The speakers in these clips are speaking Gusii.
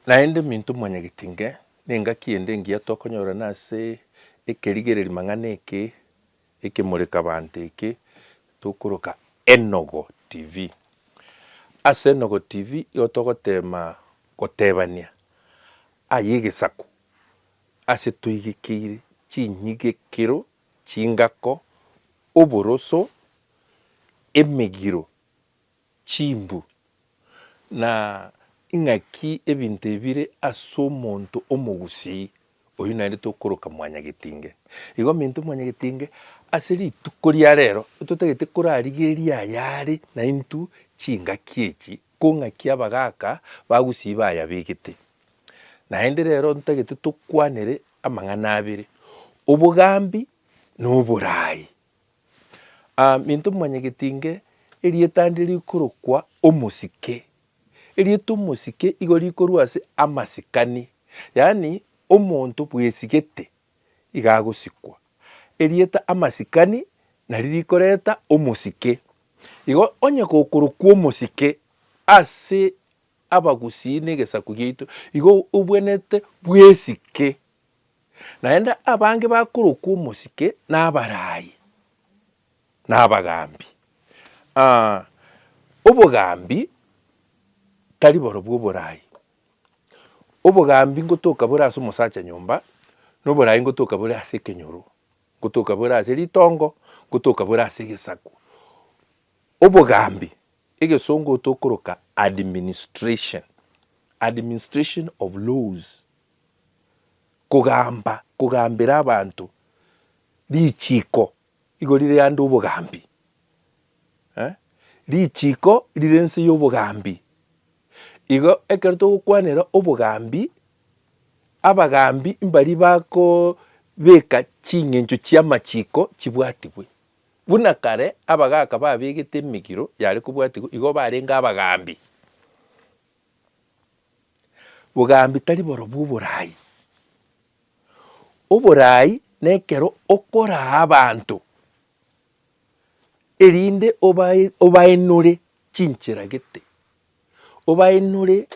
Naende minto mwanyagete inga, nengaki ende engiya tokonyora nase ekerigererio mang'ana eke ekemoreka banto eke tokoroka Enogo TV. Ase Enogo TV igo togoteema gotebania aya egesaku ase toigekeire chinyigekero, chingako, oboroso, emegiro. chimbu, na ing'aki ebinto ebire as'omonto omogusii, oyio naende tokoroka mwanyagetinge. Igo minto mwanyagetinge, ase rituko ria rero totagete korarigereria ayare naintwe chingaki echi, kong'aki abagaaka bagusii bayabegete. Naende rero ntagete tokwanere amang'ana abere, obogambi na oboraai. Minto momanyegeti inge, erieta nde rikorokwa omosike. Erieta omosike igo rikorwa ase amasikani, yaani omonto bwesigete iga agosikwa. Erieta amasikani nari rikoreta omosike. Igo onye gokorokwa omosike ase abagusii na egesaku giaito, igo obwenerete bwesike. Naende abange bakorokwa omosike nabaraai, na abagaambi. Aa, obogaambi tari borobwo oboraai. Obogaambi ngotoka bore ase omosacha nyomba, na oboraai ngotoka bore ase ekenyoro, ngotoka bore ase ritongo, ngotoka bore ase egesaku. Obogaambi, egesongo tokoroka administration, administration of laws. kogamba, kogambera abanto richiko igo rire ande obogambi eh, richiko rire nse y'obogambi. Igo ekero togokwanera obogambi, abagambi mbaria bakobeka ching'encho chi'amachiko chibwatigwe. Buna kare abagaka babegete emegiro yare kobwatigwa, igo barenge abagambi. Bogambi tari borobwo oboraai. Oboraai nekero okoraa abanto erinde obaenore chinchera gete, obaenore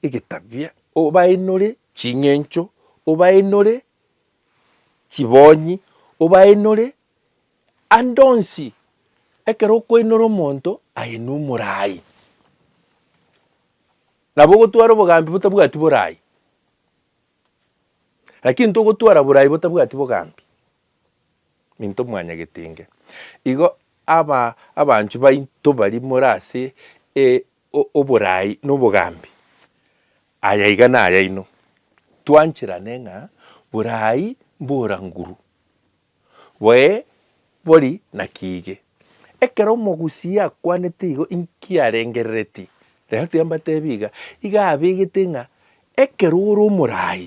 egetabia, obaenore ching'encho, obaenore chibonyi, obaenore Ande onsi, ekero okoinora omonto, aine omorai. Nabo ogotwara obogambi botabwati borai, lakini togotwara borai botabwati bogambi, minto mwanyagete inge. Igo aba abanchwa baito baria more ase e- o- oborai na obogambi, aya iga nayaino, twancherane ng'a borai mboranguru, Boe bori naki ige, ekero omogusii akwanete igo inki arengerereti? Rero timbatebi iga, iga abegete ng'a ekero ore omoraai,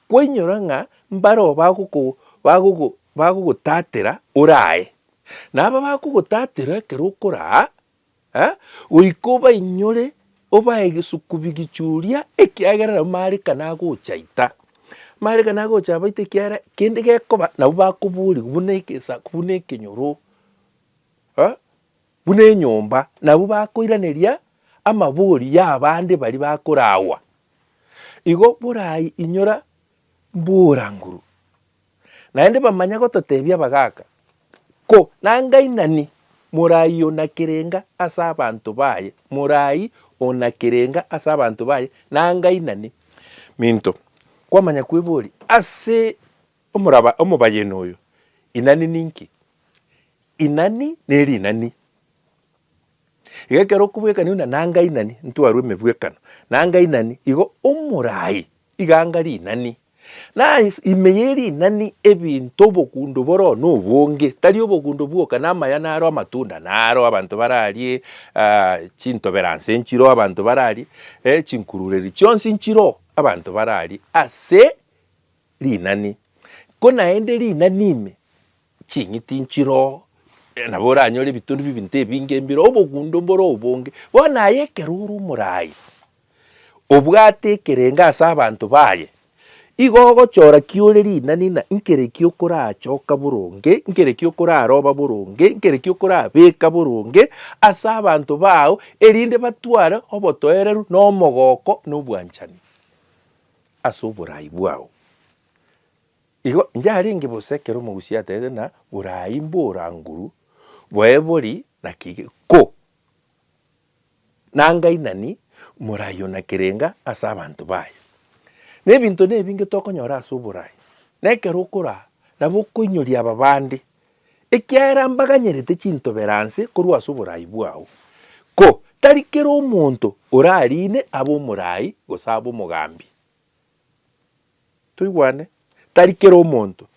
kwainyora ng'a mbareo bagogo bagogo bagogotatera orae. Na aba bagogotatera ekero okoraa. Goika obainyore, obae egesukubi gichuria, ekiagera nabwo marika nagocha aita. Marika nagocha aba aita ekiagera kende gekoba nabwo bakoborigwa buna egesaku, buna ekenyoro, buna enyomba, nabwo bakoiraneria amabori y'abande baria bakoragwa. Igo borai inyora mboranguru, Naende bamanya gototebia abagaaka, Ko nangainani morai ona kerenga ase abanto baye, morai ona kerenga ase abanto baye nangainani. Minto, kwamanya kwebori ase omoraba omobayeno oyo, Inani ninki? Inani nerinani. Iga ekero okobwekania buna nanga inani ntwarwe emebwekano, nanga inani igo omorai iga anga rinani. Na ase ime ye rinani ebinto obogundo bore oo na obonge, tari obogundo bwoka, na amaya naro, amatunda naro, abanto bararie ah, chintoberanse nchiroo abanto bararie, eh, chinkurureri chionsi nchiroo abanto bararie ase rinani. Ko naende rinani ime Ching'iti nchiro, nabo oranyore ebitori b'ebinto ebinge embiro, obogundo mbore obonge. Bono aye ekero ore omoraai, obwate ekerengo ase abanto baye, igo ogochora ki ore rinani ng'a nkere ki okorachoka boronge, nkere ki okoraroba boronge, nkere ki okorabeka boronge ase abanto bao, erinde batware obotoereru na omogoko na obwanchani ase oboraai bwao. Igo inche arenge bosa ekero omogusii aterete na borai mboranguru boebori na kige ko nangainani morai o na kerenga ase abanto baye. Na ebinto nebinge tokonyora ase oborai, na ekero okoraa nabo okoinyoria aba bande, ekiagera mbaganyerete chintobero anse korwa ase oborai bwao. Ko tari kera omonto orariine abe omorai gose abe omogambi. Toigwane, tari kera omonto.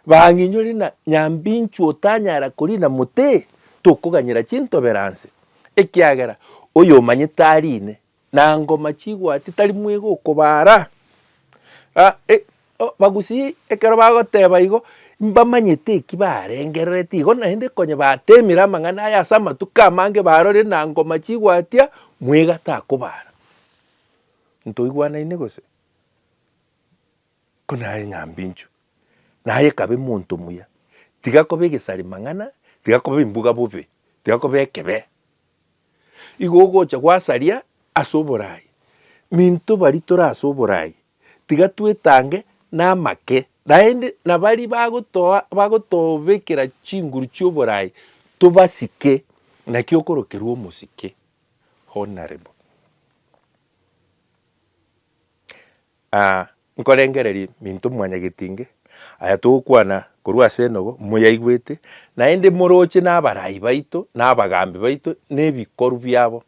Bang'inyore na nyambinchu otanyara korina mote, tokoganyera chintobero anse, ekiagera oyomanyete arine, na ngoma chigwati tari mwega okobara. A e o Bagusii ekero bagoteba igo, mbamanyete eki barengerereti igo naende konye batemire amang'ana aya ase amatuko amange barorire na ngoma chigwatia, mwega takobara. Ntoigwanaine gose? Konaye ng'ambi inchwe, naye kabe monto muya, tiga koba egesari mang'ana, tiga koba embuga bobe, tiga koba ekebe. Igo ogocha gwasaria ase oborai, minto baria tore ase oborai, tiga twetange namake, naende na baria bagotoa bagotobekera chinguru chioborai tobasike, naki okorokerwa omosike, honourable. Aa, nkorengereria minto mwanyagetinge, aya togokwana korwa ase enogo moyaigwete, naende moroche nabarai baito, na abagaambi baito, na ebikoru biabo.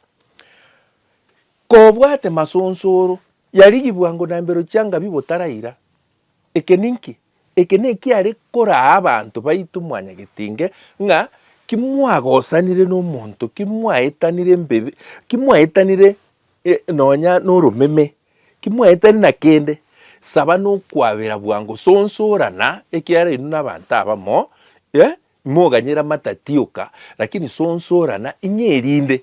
Kobwate masonsoro, yarigigwa ngonambero chianga bi botaraira, Eke ninki? Eke nekiare koraa abanto baito mwanyagetinge ng'a kimwagosanire nomonto, kimwaetanire embebi, kimwaetanire nonya noromeme, kimwaetani na kende, saba nokwabera bwango, sonsorana, ekiara inwe nabanto abamo, eh, imoganyera amatati oka, lakini sonsorana, ing'e erinde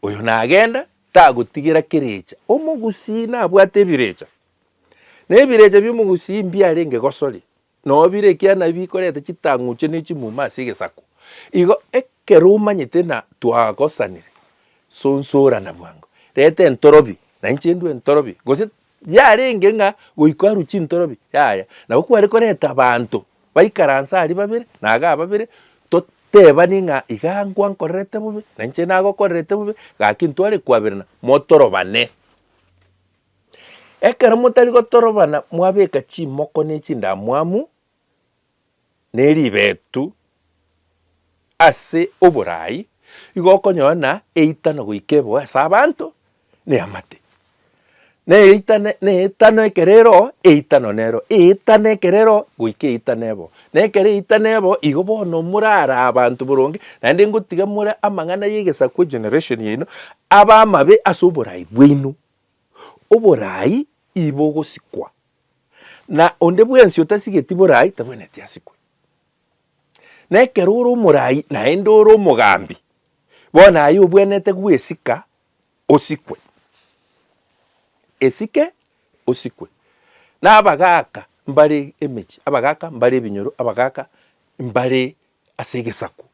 oyo nagenda tagotigera kerecha. Omogusii nabwate ebirecha, Na ebirecha bi'omogusii mbiarenge gosori, nao bire ekiana bikoreta chitang'uche ne chimuma ase egesaku. Igo ekero omanyete na twagosanire, sonsorana bwango, reta entorobi, na inche ndue entorobi, gose yarenge ng'a goika arue chintorobi, yaya. Nabo kware koreta abanto baikaranse aria babere, na iga babere, totebanie ng'a igaa nkwankorerete bobe, na inche nagokorerete bobe, gaki ntware kwaberana, motorobane. Ekero motari gotorobana mwabeka chimoko ne chindamwamu ne ribeetu ase oboraai, igo okonyora na eitano goika eboe ase abanto ne amate. Na eitano na eitano ekero ero eitano nero eitano ekero ero goika eitano eboe. Na ekero eitano eboe igo bono morara abanto boronge naende ngotiga more amang'ana y'egesaku generation yaino abe amabe ase oboraai bwaino. Oboraai ii bogosikwa, na onde bwensi otasigeti boraai tabwenereti asikwe. Na ekero ore omoraai naende ore omogambi, bono aye obwenerete gwesika osikwe. Esike osikwe. Na abagaaka mbare emechie, abagaaka mbare ebinyoro, abagaaka mbare ase egesaku.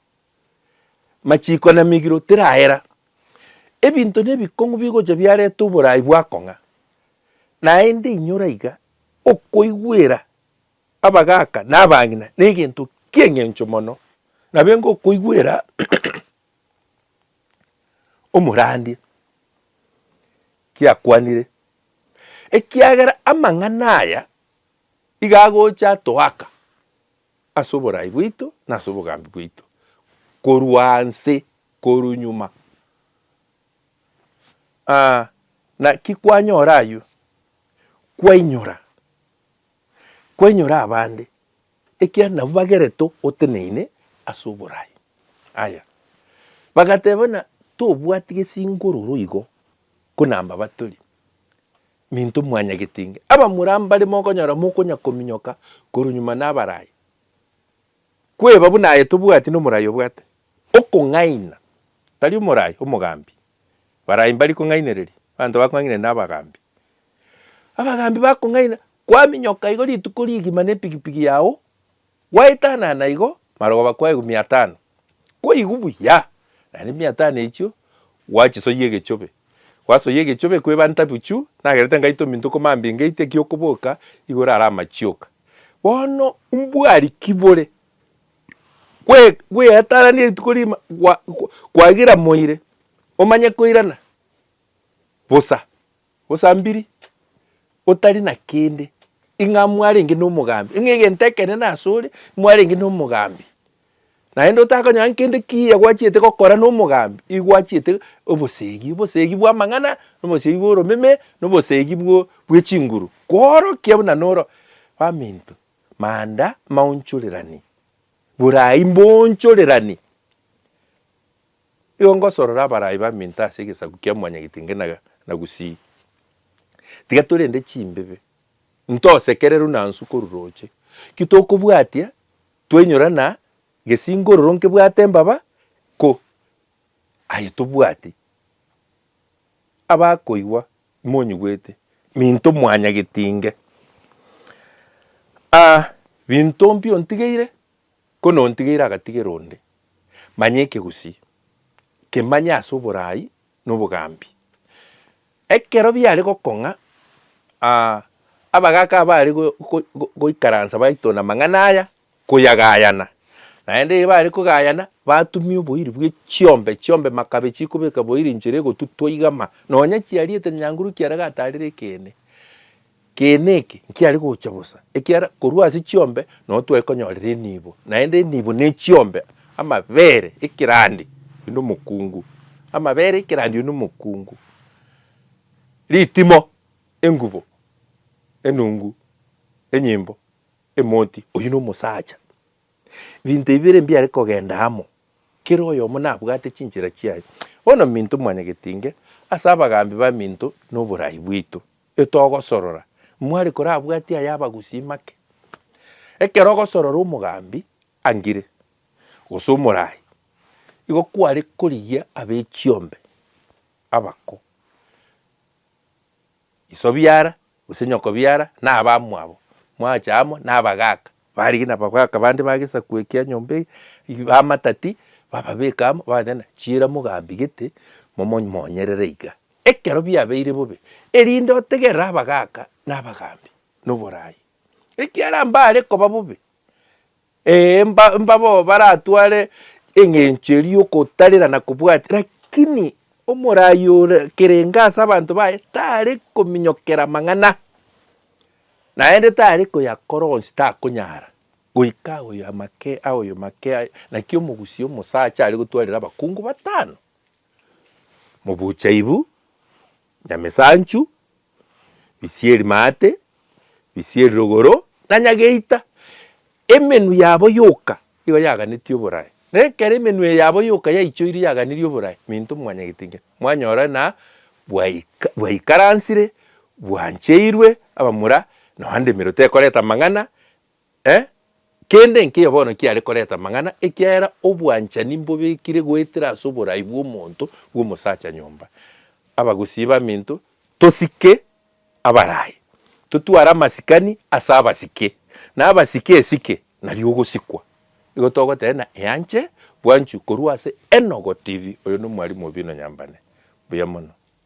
Machiiko na migiro tiraera. Ebinto na ebikong'u bigocha biareta oborai bwa kong'a, naende inyora iga okoigwera abagaaka na abang'ina negento ki'eng'encho mono, nabo enga okoigwera omorandia kiakwanire, ekiagera amang'ana aya iga agocha atoaka. ase oborai bwaito na ase obogambi bwaito korwa nse korwa nyuma. Aa, naki kwanyora ayio, kwainyora, kwainyora abande, ekiagera nabwo bagerete oteneine ase oborai. Aya, bagateba buna tobwati gesingororo igo, ko nambabatori, Minto mwanyagetinge abamura mbare mokonyora mokonyakominyoka korwa nyuma nabarai. Kweba buna aye tobwati nomorai obwate okong'aina, tari omorai omogambi. Barai mbari kong'ainereria abanto bakong'ainire nabagambi. Abagambi bakong'aina kwaminyoka igo rituko rigima nepigipigi yao Gwaetanana naigo marogoba kwaigwa miatano, kwaigwa buya, naende miatano echio gwachisoyia egechobe. Gwasoyia egechobe kweba ntabuchu, nagerete ngaite ominto komambia ngeite eki'okoboka igoro are amachioka. Bono mbwari ki bore? Gwe gweatananie rituko rigima gwa gwa kwagiramoire, omanye koirana bosa. Osambiri, otari na kende, ing'a mwarenge nomogambi, ing'a egento ekenene asore mwarenge nomogambi. Naende otakonyora nkende kiya gwachiete gokora nomogambi, igo gwachiete obosegi, obosegi bwamang'ana, obosegi bworomeme, na obosegi bwo bwechinguru, koorokia buna noro baminto, manda, maonchorerani, borai mboonchorerani. Igo ngosorora abarai baminto ase egesaku kia mwanyagetenge na gusii. Tiga torende chimbibe, into osekereru na nsu koru roche, ki tokobwatia twenyora na gesingororo nkebwate mbaba ko? Aye tobwati. Abakoigwa monyigwete, minto mwanyagetinge. A, binto mpi ontigeire? Nkonontigeire agatigera onde, manya ekegusii, kemanye ase oboraai na obogambi. Ekero biare gokong'a, aa, abagaaka baare goikaransa baitona amang'ana aya, koyagayana. Naende ere baare kogayana, batumia oboiri bwe chiombe chiombe makabe chikobeka boiri inchera egotutwa igama, nonya chiariete nyanguru kiare gatarire ekeene. Ekeene eke nkiare gocha bosa, ekiagera korwa ase chiombe nonya twaekonyorera enibo, naende enibo ne chiombe amabere ekerandi oyio nomokungu, amabere ekerandi oyio nomokungu, ritimo, engubo, enungu, enyimbo, emoti, oyio nomosacha. Ebinto ebi bire mbiare kogenda amo, kera oyomo nabwate chinchera chiaye. Bono minto mwanyagetinge ase abagambi baminto noborai bwaito. Etogosorora, mware korabwatia ay'abagusii make. Ekero ogosorora omogambi angire, gose omorai, igo kware korigia ab'echiombe abako, iso biara, gose nyoko biara, na abamwabo, mwacha amo na abagaaka, barigie na abagaaka bande ba gesaku ekia nyomba eye, bamatati, bababeke amo, babatebi ng'a chiira mogambi gete, momo monyerere iga. Ekero biabeire bobe, erinde otegerere abagaaka na abagaambi, na oboraai. Ekiagera mbaare koba bobe, ee, mbabo baratware eng'encho eria y'okotarera na kobwatia, lakini omoraai ore kerenge ase abanto baye tare kominyokera amang'ana, naende tare koyakora onsi, takonyara, goika aoyo make, aoyo make, naki omogusia omosacha are gotwarera abakungu batano. Mobuchaibu, Nyamesanchu, Bisieri Maate, Bisieri Rogoro, na Nyageita. Emenwa yabo yoka nigo yaganetie oborae. Na ekero emenwa eye yabo yoka yaichoirie yaganirie oborae, minto mwanyagete inki? Mwanyora na bwaika, bwaikaransire, bwancheirwe abamura, nonya ndemero tekoreta amang'ana, Eh, kende nkeiyo bono kiare koreta amang'ana, ekiagera obwanchani mbobekire goetera ase oborai bw'omonto bw'omosacha nyomba. Abagusii baminto, tosike abarai, totware amasikani ase abasike, na abasike esike nario ogosikwa. Igo togoteba ng'a eanche bwanchwe korwa ase Enogo TV. Oyo nomwarimu obi nonyambane. Mbuya mono.